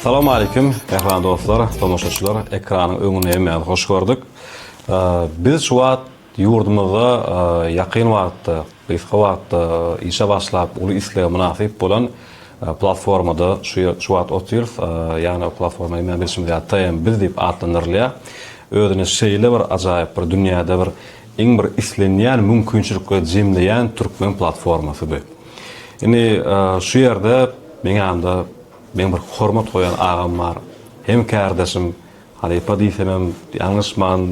Salam aleýkum mähriban dostlar, tomaşaçylar, ekranyň öňünde hemmäňizi hoş gördük. Biz şu wagt ýurdumyzda ýakyn wagtda, gysga wagtda işe başlap uly islega mynasyp bolan platformada şu wagt otyrys. Ýagny o platforma hemmämiz bilşimiz ýaly TM biz diýip atlandyrylýar. Özüni şeýle bir ajaýyp bir dünýäde bir iň bir islenýän mümkinçilikleri jemleýän türkmen platformasy bu. Indi şu ýerde meň ýanymda meň bir hormat goýan agam bar. Hem kärdeşim, halypa diýsemem ýalňyşman,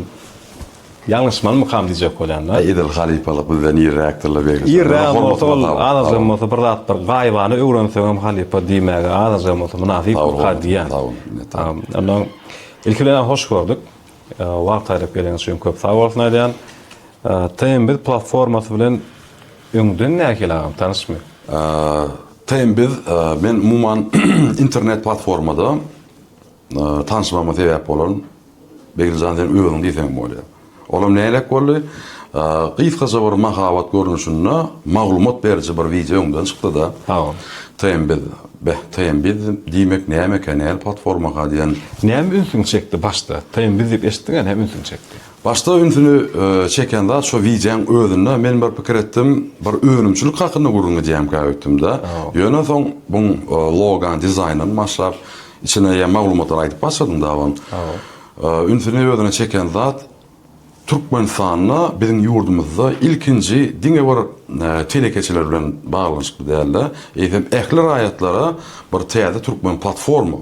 ýalňyşmanmykam diýjek bolýan-da. Edil halypalyk bizden irräkdir-le Begli şa. Irrägem bolsa ol azajygam bolsa bir zat bir gaýybana öwrenseňem halypa diýmäge azajygam bolsa mynasypmyka diýýän. Sag bol, sag bol. Ondan ilki bilen hoş gördük. Wagt aýryp geleniňiz üçin köp sag bolsun aýdýan. TMBiz platformasy bilen öňden nähili agam, tanyşmy? TMBiz men umuman internet platformada tanyşmama sebäp bolan Begiljan sen özüň diýseňem bolýar. Olam nähilek boldy? Gysgaça bir mahabat görnüşinde maglumat beriji bir wideo öňden çykdyda. Sag bol. TMBiz. Beh TM biz diýmek nämeka näl platformaka diýen. Näme ünsüňi çekdi başda? TM biz diýip eşitdiň ä näme ünsüňi çekdi? Başda ünsüni çeken zat şo wideoň özünde men bir pikir etdim bir önümçilik hakynda gürrüň edýämkä öýtdümdä ýöne soň buň logany dizaýndan başlap içine ýa maglumatlary aýdyp başladyň da on ünsüni özüne çeken zat Türkmenistanda biziň ýurdumyzda ilkinji diňe bir telekeçiler bilen baglanyşykly däl-de, eýsem ähli raýatlara bir täze türkmen platforma,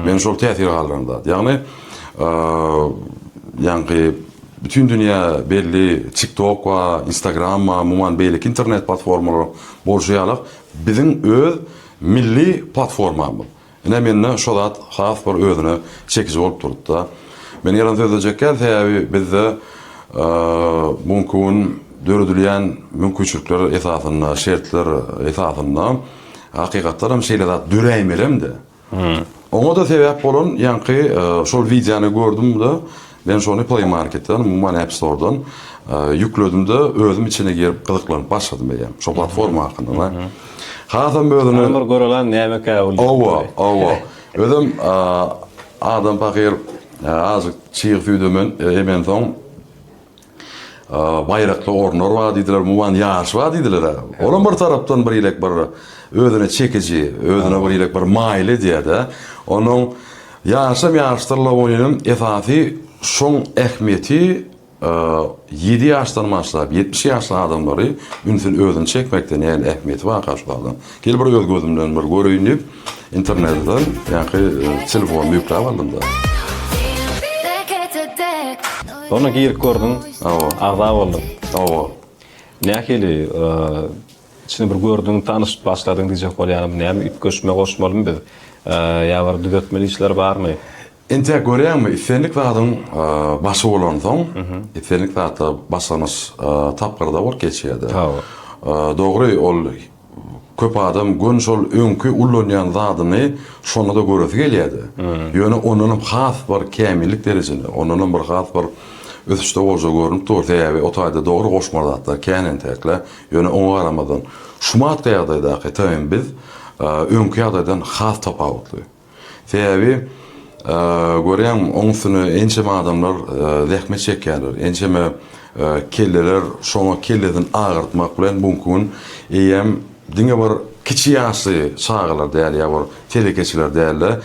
meni şol täsir galdyran zat. Ýagny, ýaňky bütin dünýä belli TikTok we Instagram we umuman beýleki internet platformalaryň bolşy ýalak biziň öz milli platformamyz. Ine, mende şo zat has bir özüne çekiji bolup durdy-da. Men ýalan sözlejekkä, sebäbi bizde bu günki gün döredilýän mümkinçilikler esasynda, şertler esasynda hakykatdan hem şeýle zat döräýmelem-de. Oňa-da sebäp bolan ýaňky şol wideony gördüm-de, Men şony Play Marketden, umuman App Store'dan ýükledim-de, özüm içine girip gyzyklanyp başladym eýýäm. Şo platforma hakynda-da. Hasam özüni... Ony bir göreläň, nämekä ol? Hawa, hawa. Özem adam pahyr azajyk çyg süýdem emensoň, baýrakly orunlar bar diýdiler, umuman ýaryş bar diýdiler-ä. Olam bir tarapdan bir ilek bir özüne çekiji, özüne bir ilek bir maýyl edýär-de. Onuň ýaryşam ýaryşdyr Lawoninem esasy şoň ähmiýeti ýedi ýaşdan başlap ýetmiş ýaşly adamlary ünsüni özüne çekmekden ýaly ähmiýeti bar gaşgaldan. Gel bir öz gözümden bir göreýin diýip, internetden ýaňky telefonymy ýükläp aldym-da. Soňra girip gördüň. Hawa. Agza bolduň. Hawa. Nähili, içini bir gördüň, tanyşyp başladyň diýjek bolýaryn. Näme, üýtgeşme goşmalymy biz? Ýa bir düzetmeli işler barmy? Entek görýäňmi, islendik zadyň başy bolansoň, islendik zatda başlangyç tapgyrda bolup geçýär-de. Hawa. Dogry, ol Köp adam gön şol öňki ullanýan zadyny şonda-da göresi gelýärdi. Ýöne ondanam has bir kämillik derejesinde, ondanam bir has bir ösüşde bolja görnüp dur. Sebäbi o taýda dogry goşmaly zatlar kän entekle. Ýöne oňa garamazdan, şumatky ýagdaýdaky TM biz öňki ýagdaýdan has tapawutly. Sebäbi görýäň oň üstüne ençeme adamlar zähmet çekýärler, ençeme kelleler şoňa kellesini agyrtmak bilen buňki gün eýýäm diňe bir kiçi ýaşly çagalar däl ýa bir telekeçiler däl-de,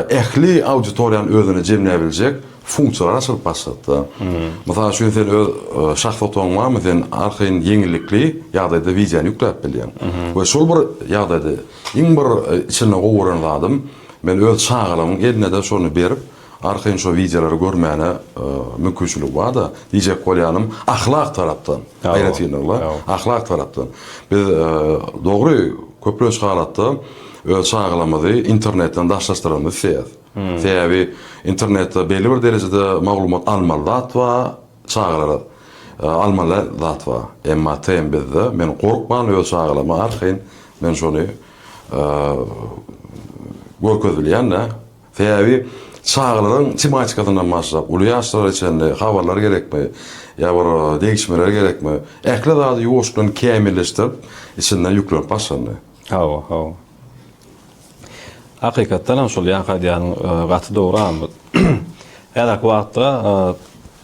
ähli auditoriýany özüne jemläbiljek funksiýalar açylyp başlapdy. Mysal üçin sen öz şahsy otagyň barmy sen arkaýyn ýeňillikli ýagdaýda wideony ýükläp bilýäň we şol bir ýagdaýda Iň bir içine gowaran zadym, men öz çagalarymyň eline-de şony berip, arkaýyn şo wideolary görmäne mümkinçiligi bar-da, diýjek bolýanym, ahlak tarapdan, aýratynlykla, ahlak tarapdan. Biz, dogry, köplenç halatda öz çagalarymyzy internetden daşlaşdyralmyzy isleýäris. Sebäbi internetde belli bir derejede maglumat almaly zat bar, Çagalara almaly zat bar. Emma TM bizde men gorkman öz çagalama arkaýyn men şony görkezip bilýän-de. Sebäbi çagalaryň tematikasyndan başlap uly ýaşlara çenli habarlar gerekmi ýa bir degişmeler gerekmi ähli zady ýuwaşdan kämilleşdirip içinden ýüklenip başlandy. Hawa, hawa. Hakykatdan hem şol ýaňky aýdýanyň e, gaty dogry Ahmet. Häzirki wagtda e,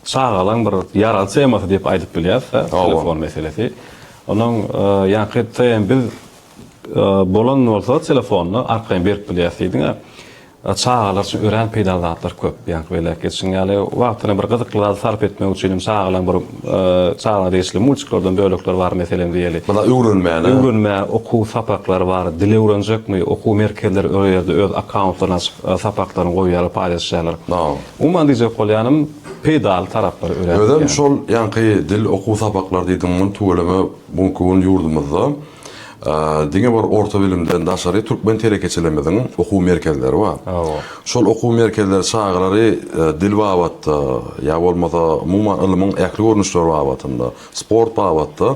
çagalaň bir ýaraly temasy diýip aýdyp bilýäris e, telefon meselesi. Onuň e, ýaňky TM biz bolan bolsa telefonyny arkaýyn berip bilýäris diýdiň-ä. Çagalar üçin örän peýdaly zatlar köp. Ýaňky belläp geçişiň ýaly, wagtyny bir gyzykly zady sarp etmek üçin hem çagalaň bir çagalara degişli multiklerden bölekler bar, meselem diýeli. Maňa öwrenmäne. Öwrenmä okuw sapaklary bar. Dil öwrenjekmi? Okuw merkezleri öo ýerde öz akkauntlaryny açyp, sapaklaryny goýýarlar, paýlaşýarlar. Umuman diýjek bolýanym, peýdaly taraplary örän köp. Özem şol ýaňky dil okuw sapaklary diýdigiň muny tüweleme bu günki gün ýurdumyzda. Diňe bir orta bilimden daşary türkmen telekeçilerimiziň okuw merkezleri bar. Şol okuw merkezleri çagalary e, dil babatda ýa bolmasa umuman ylmyň ähli görnüşleri babatynda, sport babatda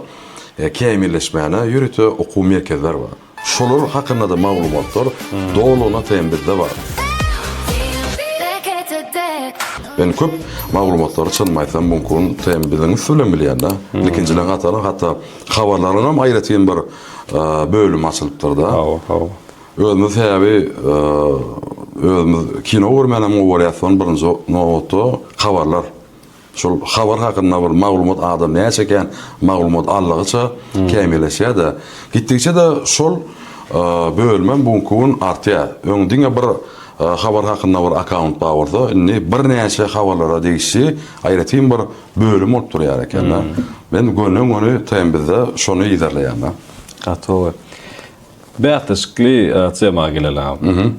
e, kämilleşmäne ýörite okuw merkezler bar. Şolar hakynda-da maglumatlar hmm. dolugyna teýin bizde bar. Men köp maglumatlary çynymy aýtsam mumkin, sen biziň üsti bilen bilýän-de. Hmm. Ikinjileň hataryň hatda Habarlaryňam aýratyn bir bölümi açylypdyrda. Hawa, hawa. Özümiz sebäbi özümiz kino görmänem gowy görýäs, soň birinji nobatda habarlar. Şol habar hakynda bir maglumat adam näçe ekän, maglumat aldygyça hmm. kämilleşýär-de. Gitdikçe-de şol bölümem bu gün artýar. Öň diňe bir habar hakynda bir akkaunt bar bolsa, indi birnäçe habarlara degişli aýratyn bir bölüm bolup durýar ekenda. Men gönden göni taýyn bizde şony yzarlaýanda. Gatowy. Bäsleşikli tema geleli. Mhm.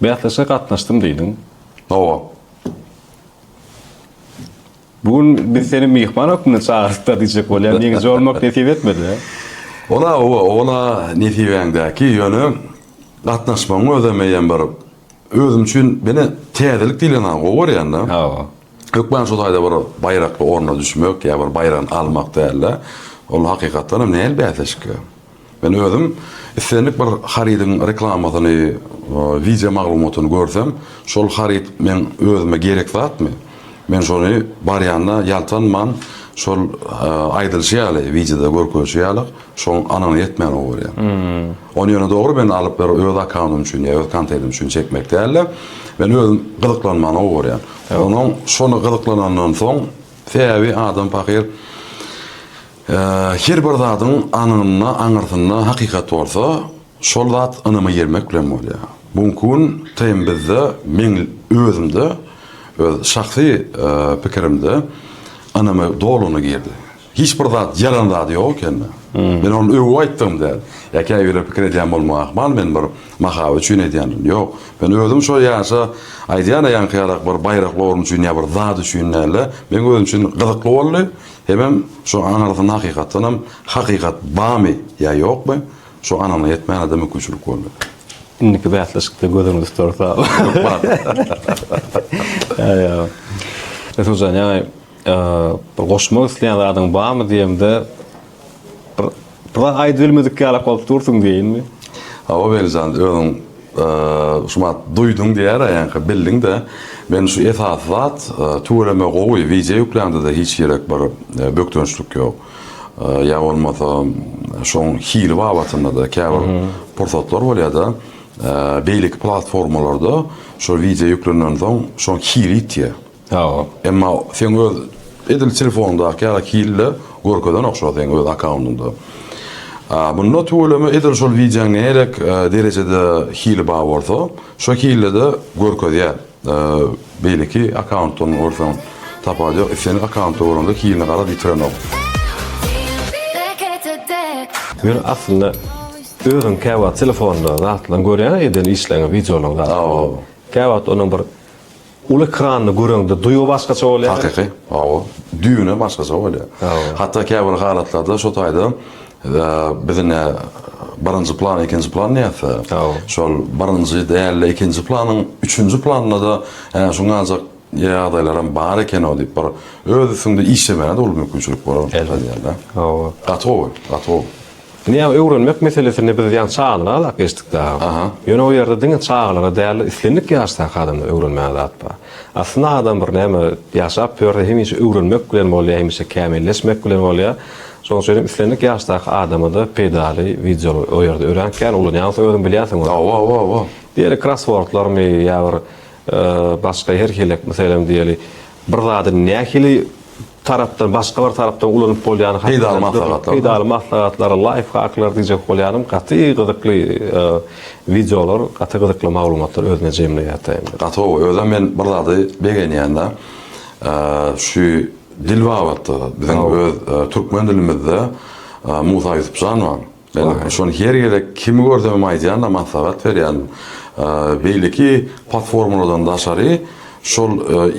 Bäsleşige gatnaşdym diýdiň. Hawa. Bu gün biz seni myhman hökmünde çagyrypdyr diýjek bolýan ýeňiji bolmak nesip etmedi. Ola owa ola nesibäňdäki ýöne gatnaşmagyň özem eýýäm bir özüm üçin bine täzelik diýileni gowy görýändä. Hawa. Hökman şu taýda bir baýrakly orna düşmek ýa bir baýragyny almak däl-de, ol hakykatdan hem nähili bäsleşik? Men özüm islendik bir harydyň reklamasyny, wideo maglumatyny görsem, şol haryt meň özüme gerek zatmy? Men şony barýanda ýaltanman şol aýdylyşy ýaly, wideoda görkezişi ýaly, şoň anygyna ýetmän obarýan. Ony ýöne dogry men alyp bir öz akaunym üçin ýa öz kontenim üçin çekmek dälde, men özüm gyzyklanmana gowy görýän. Onuň şony gyzyklanandan soň, sebäbi adam pahyr her bir zadyň aňynda, aňyrsynda hakykat bolsa, şol zat ynama girmek bilen bolýar. Bu günki gün TM bizde meň özümde, öz şahsy pikirimde ynama dolugyna girdi. Hiç bir zat ýalan zady ýok ekeni. Men ony öwüp aýtdygym däl. Ýa käbirler pikir edýän bolmagy ahmal men bir mahabat üçin edýändirin. Ýok. Men özüm şo ýaşa aýdýan-a ýaňky ýalak bir baýrakly orun üçin ýa bir zat üçin däl-de, meň özüm üçin gyzykly boldy. Hemem şo aňyrsyna hakykatdanam hakykat bamy ýa ýokmy, şo anygyna ýetmäne-de mümkinçilik boldy. Indiki bäsleşikde gözüňizi tutarys awa. Ýok bar. Ýa ýa. Resul jan ýaňy Bir goşmak isleýän zadyň barmy diýemde, bir bir zat aýdyp bilmedik ýalak bolup dursuň diýeýinmi? Hawa Welijan, özüň şu wagt duýduň diýer-ä, ýaňky bildiň-de. Men şu esasy zat, tüweleme gowy wideo ýükläňde-de hiç ýerek bir bökdençlik ýok. Ýa bolmasa şoň hili babatynda-da käbir pursatlar bolýar-da, beýleki platformalarda şo wideo ýüklenensoň şoň hili ýitýär. Sag bol. Emma seň öz edil telefoňdaky ýaly hilde görkezenok şo seň öz akkaundyňda. Munda tüweleme edil şol wideoň nägerek derejede hili bar bolsa şo hildede görkezýär. Beýleki akkauntdan görseň tapawudy ýok. Islendik akkauntda görende hilini garaz ýitirenok. Men aslynda özüm käwagt telefonda zatlaryň görýän edil işleriňi wideolaryň zat. Sag bol. Käwagt onuň bir Uly ekranly göreňde duýgy başgaça bolýar. Hakyky, hawa. Düwne başgaça bolýar. Hawa. Hatda käbir halatlarda şo taýda biz ine birinji plan, ikinji plan diýäs-de. Hawa. Şol birinji däl-de ikinji planyň üçünji planynda-da hä şu galjak ýagdaýlaram bar eken-ow diýip bir öz üstüňde işlemäge-de uly mümkinçilik bolar. Elbetde. Hawa. Gaty gowy, gaty gowy. Indi ýa öwrenmek meselesinde biz ýa çagalara alap geçdik dagy. Aha. Ýöne o ýerde diňe çagalara dälde islendik ýaşdaky adamda öwrenmäge zat bar. Aslynda adam bir näme ýaşap ýörse hemişe öwrenmek bilen bolýar hemişe kämilleşmek bilen bolýar. Şoň üçin hem islendik ýaşdaky adamada peýdaly wideo o ýerde örän kän ulanýaňsoň özüň bilýänsiň ony. Hawa hawa hawa. Diýeli krosswordlarmy ýa bir başga her hili meselem diýeli bir zady nähili tarapdan, başga bir tarapdan ulanyp bolýany hakynda Peýdaly maslahatlar. Peýdaly maslahatlar, laýfhaklar diýjek bolýanym, gaty gyzykly wideolar, gaty gyzykly maglumatlar özünde jemleýär taýyndy. Gaty gowy. Özem men bir zady begenýän-de, şu dil babatda biziň öz türkmen dilimizde Musa Ýusupjanow Men şony her gezek kimi görsem hem aýdýan-da, maslahat berýän. Beýleki platformalardan daşary şol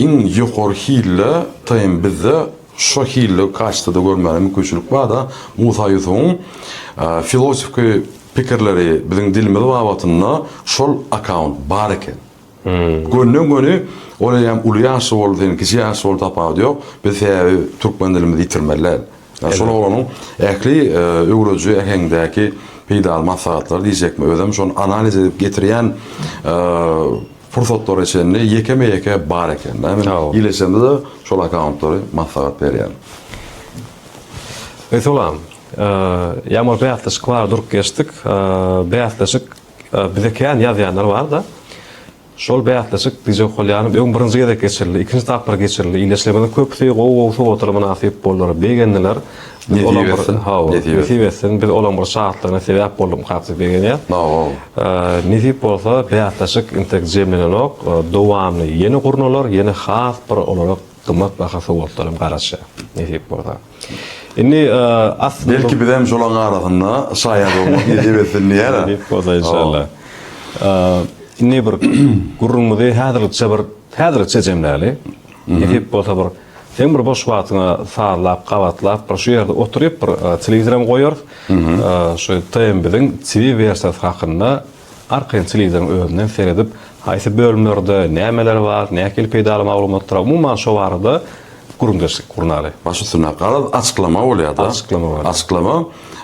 iň ýokary hilli TM bizde şu hilli kastede görmäne mümkinçilik bar-da, Musa Ýusubyň filosofki pikirleri biziň dilimiz babatynda şol akkaunt bar eken. Gönden göni ol eýýäm uly ýaşly boldy sen kiçi ýaşly bol tapawudy ýok biz sebäbi türkmen dilimizi ýitirmeli däl ýa şol oglanyň ähli öwrediji äheňdäki peýdaly maslahatlary diýjekmi özem şony analiz edip getirýän pursatlara çenli ýekeme ýeke bar eken dä men ileçemde şol akkauntlary maslahat berýän. Öýt olam. Ýaňy bir bäsleşik bardy durup geçdik. Bäsleşik Bize kän ýazýanlar bar-da. Şol bäsleşik DJ Okalýanow öň birinji gezek geçirildi, ikinji tapgyr geçirildi. Ildeşlerimiziň köpüsi gowy-gowy sowgatlara mynasyp boldular, begendiler. Nesip etsin. Hawa, nesip etsin. Biz olaryň bir şatlygyna sebäp boldukmykak diýip begenýäs. Sag-ol. Nesip bolsa, bäsleşik intek jemlenenok. Dowamly ýene gurnalar, ýene has bir olara gymmat baha sowgatlar hem garaşýar, nesip bolsa. Indi asly Belki biz hem şolaň arasynda şaýat bolmak nesip etsin diýýära. Nesip bolsa inşallah. Indi bir gürrüňimizi häzirlikçe bir häzirlikçe jemläli. Nesip bolsa bir seň bir boş wagtyňa sazlap, gabatlap bir şu ýerde oturyp bir telewizor hem goýarys. Şu TM biziň TV wersiýasy hakynda Arka ýan telewizoriň özünden seredip, haýsy bölümlerde nämeler bar, nähili peýdaly maglumatlar, umuman şo barada gürrüňdeşlik gurnaly. Baş üstüne, garaz açyklama bolýar-da. Açyklama bolýar. Açyklama,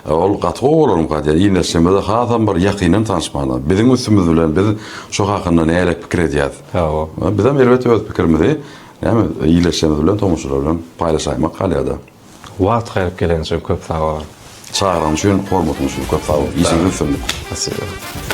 ol gaty gowy bolarmyka diýýän, ildeşlerimize hasam bir ýakyndan tanyşmaga. Biziň üstümiz bilen biz şo hakynda nähili pikir edýäris. Hawa. Biz hem elbetde öz pikirimizi näme ildeşlerimiz bilen, tomaşaçylar bilen paýlaşaýmak galýar-da. Wagt gaýryp geleniň üçin köp sag boluň. Çagyryň üçin, hormatyň üçin köp sag boluň. Işiňizde üstünlik. Spasiba.